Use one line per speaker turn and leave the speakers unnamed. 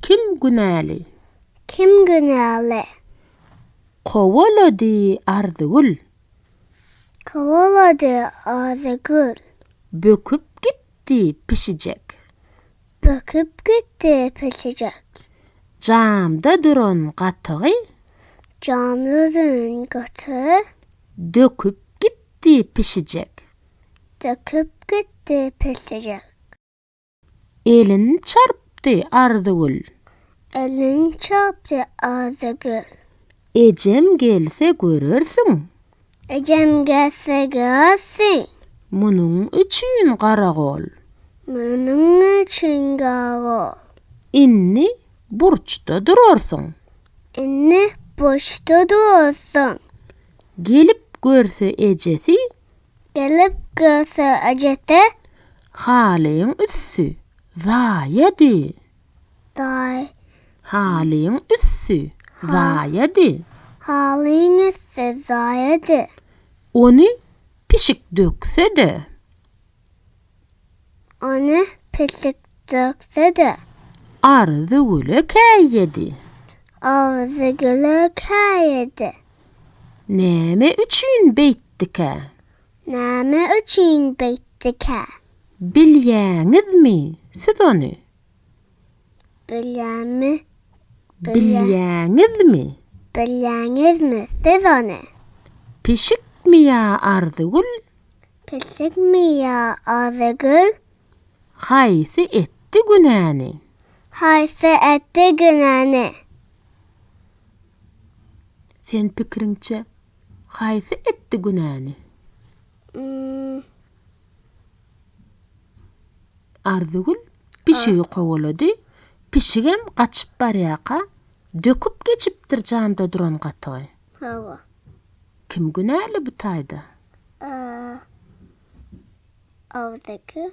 Kim günäli? Kim günäli? Kowalady Arzygül. Kowalady Arzygül. Böküp gitdi pişijek. Böküp gitdi pişijek. Jamda duran gatygy. Jamda duran gatygy. Döküp gitdi pişijek. Döküp gitdi pişijek. Elin çarpdy Arzygül. Elin çarpdy Arzygül. Ejem gelse görersiň. Ejem gelse görersiň. Munuň üçin garagol. Munuň üçin garagol. Indi burçda durarsyň. Indi burçda durarsyň. Gelip görse ejesi. Gelip görse ejesi. Halyň üsti zaýady. Daý. Halyň üsti zaýady. Halyň üsti zaýady. Ony pişik dökse-de. Ony pişik dökdi-de. Arzygüle käýedi. Arzygüle käýedi. Näme üçin beýtdikä? Näme üçin beýtdikä? Bilýäňizmi siz ony? Bilýäňmi? Bilýäňizmi? Bilýäňizmi siz ony? Pişikmi ýa Arzygül? Pişikmi ýa Arzygül? Haýsy etdi günäni? Haýsy etdi günäni? Sen pikiriňçe, haýsy etdi günäni? Arzygül pişigi kowalady, pişigem gaçyp barýarka, döküp geçipdir janda duran gatygy. Hawa. Kim günäli bu taýda? Arzygül.